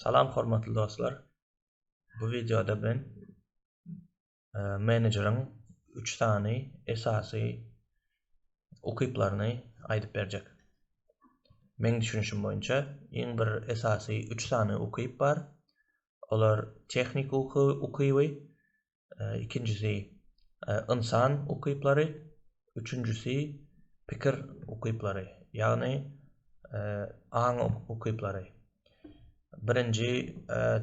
Salam hormatly dostlar. Bu wideoda men e, menejeriň 3 sany esasy ukyplaryny aýdyp berjek. Men düşünişim boýunça iň bir esasy 3 sany ukyp bar. Olar tehnik uky ukyby, ikinjisi ynsan ukyplary, üçünjisi pikir ukyplary, ýagny aň ukyplary. Birinji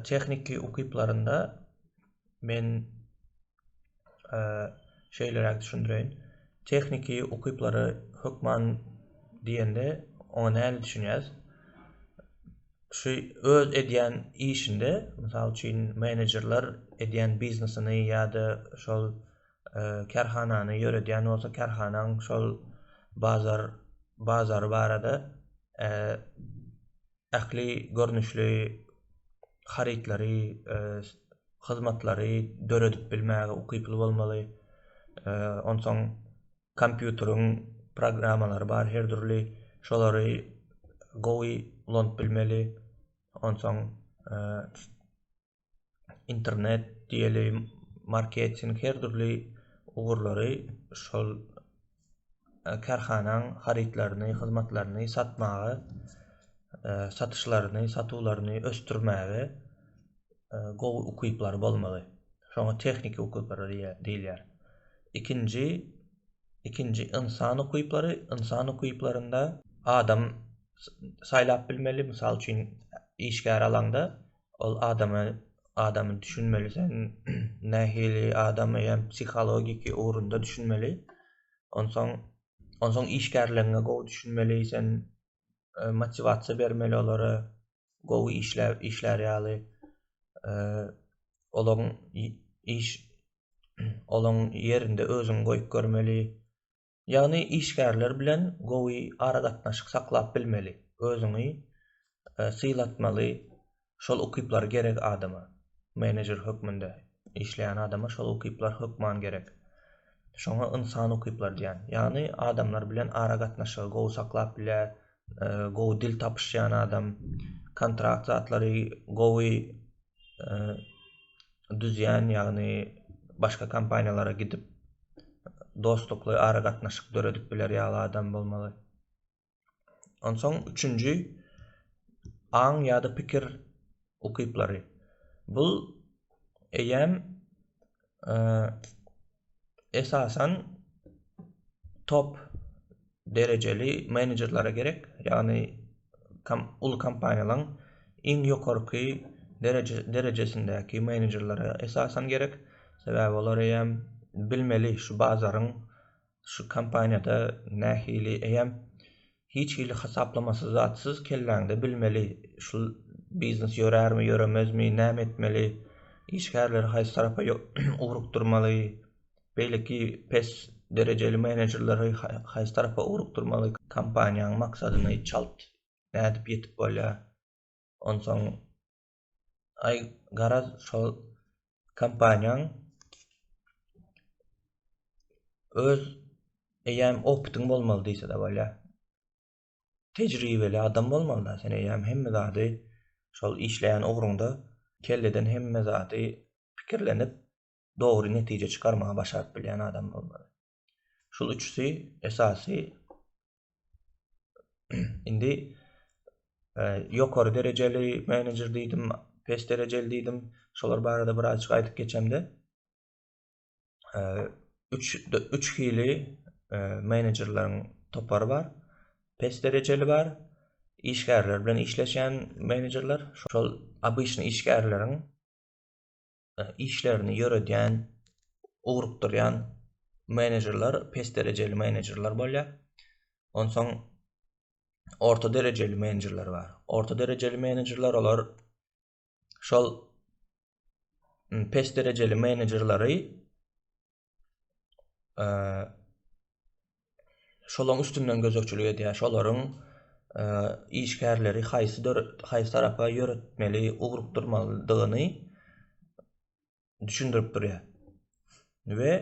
tehniki ukyplarynda men şeýleräk düşündireýin. Tehniki ukyplary hökman diýende oňa nähili düşünýäs? Kişi öz edýän işinde, mysal üçin, menejerler edýän biznesini ýa-da şol kärhanany ýöredýän bolsa, kärhanaň şol bazar bazary barada ähli görnüşli harytlary, hyzmatlary döredip bilmäge ukyply bolmaly. Onsoň kompýuteriň programmalary bar her dürli şolary gowy ulanyp bilmeli onsoň e, internet diýeli marketing her dürli ugurlary şol e, kärhanaň harytlaryny hyzmatlaryny satmaga e, satyşlaryny satuwlaryny ösdürmäge gowy ukyplary bolmagy. Şoňa tehniki ukyplary diýilýär. Ikinji ikinji ynsan ukyplary, ynsan ukyplarynda adam saýlap bilmeli, mysal üçin işgär alaňda ol adamy adamy düşünmeli sen nähili adam eýýäm psihologiki ugrunda düşünmeli. Onsoň onsoň işgärleriňe gowy düşünmeli sen e, motiwasiýa bermeli olara gowy işläp işlär ýaly olaň iş olaň ýerinde özüňi goýup görmeli ýagny işgärler bilen gowy aragatnaşyk saklap bilmeli özüňi sylatmaly şol ukyplar gerek adama menejer hökmünde işleýän adama şol ukyplar hökman gerek şoňa ynsan ukyplary diýýän ýagny adamlar bilen aragatnaşygy gowy saklap bilýär gowy dil tapyşýan adam kontrakt zatlary gowy düzýän ýagny başga kompaniýalara gidip dostlukly aragatnaşyk döredip biler ýaly adam bolmaly onsoň üçünji aň ýa-da pikir ukyplary bul eýýäm esasan top derejeli menejerlere gerek. Ýagny kom, uly kompaniýalaryň iň ýokarky dereje, derejesindäki menejerlere esasan gerek. Sebäbi olar eýäm bilmeli şu bazaryň şu kompaniýada nähili eýäm Hiç hili hasaplamasy zatsyz kelläňde bilmeli, şul biznes ýörärmi, ýöremezmi, näme etmeli, işgärleri haýsy tarapa ugrukdyrmaly, beýleki pes derejeli menejerleri haýsy tarapa ugrukdyrmaly, kompaniýanyň maksadyny çalt nädip ýetip bolýar, onsoň Ay garaz şol kompaniýaň öz eýäm opytyň bolmaly diýse de bolýar. Tejribeli adam bolmaly da sen eýäm hemme zady şol işleýän ugruňda kelleden hemme zady pikirlenip dogry netije çykarmagy başaryp bilýän adam bolmaly. Şul üçüsi esasy indi e, ýokary derejeli menejer diýdim, pes derejeli diýdim. Şolar barada birazjyk aýdyp geçemde. E, üç, üç hili e, menejerleriň topary bar. Pes derejeli bar. Işgärler bilen işleşen menejerler, şol obyçny işgärleriň işlerini ýöredýän, ugrukdyrýan menejerler pes derejeli menejerler bolýar. Onsoň orta derejeli menejerler bar. Orta derejeli menejerler olar şol pes derejeli menejerleri şolaryň üstünden gözegçilik edýär, şolaryň işgärleri haýsy haýsy tarapa ýöretmeli, ugrukdyrmalydygyny düşündirip durýar. We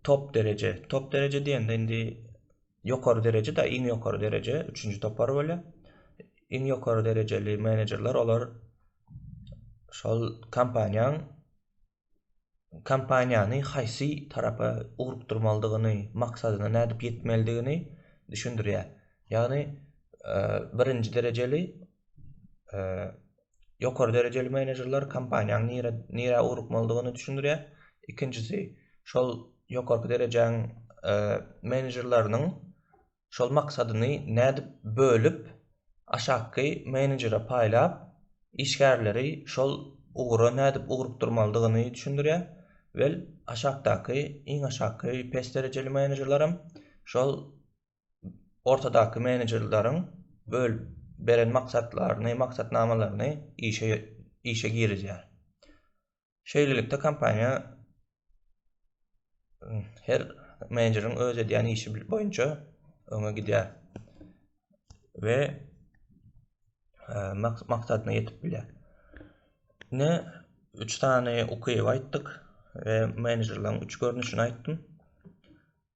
top dereje, top dereje diýende indi ýokary dereje-de, iň ýokary dereje, üçünji topar bolýar. Iň ýokary derejeli menejerler olar şol kompaniýanyň kompaniýany haýsy tarapa ugrukdyrmalydygyny, maksadyna nädip ýetmelidigini düşündirýär. Ýagny birinji derejeli ýokary derejeli menejerler kompaniýaň nire nirä ugrukmalydygyny düşündirýär. Ikinjisi şol ýokarky derejäň menejerleriniň şol maksadyny nädip bölüp, aşakky menejere paýlap, işgärleri şol ugra nädip ugrukdyrmalydygyny düşündirýär. Well, aşakdaky, iň aşakky pes derejeli menejerlerem şol ortadaky menejerleriň bölüp beren maksatlaryny, maksatnamalaryny işe işe girizýär. Şeýlelikde kompaniýa her menejeriň öz edýän işi boýunça öňe gidýär we e, maksadyna ýetip bilýär. Ne üç sany ukyby aýtdyk we menejerleriň üç görnüşini aýtdym.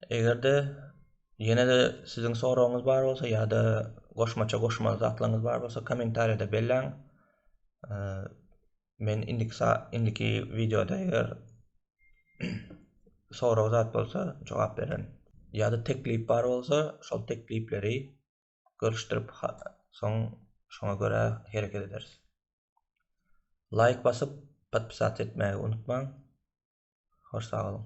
Eger-de ýene-de siziň soragyňyz bar bolsa ýa-da goşmaça goşmaly zatlaryňyz bar bolsa kommentariýada belläň. E, Men indiki indiki wideoda eger sorag zat bolsa jogap beren. Ýa-da teklip bar bolsa şol teklipleri görüşdirip soň şoňa görä hereket ederis. Laýk basyp podpisat etmäge unutmaň. Hoş sag boluň.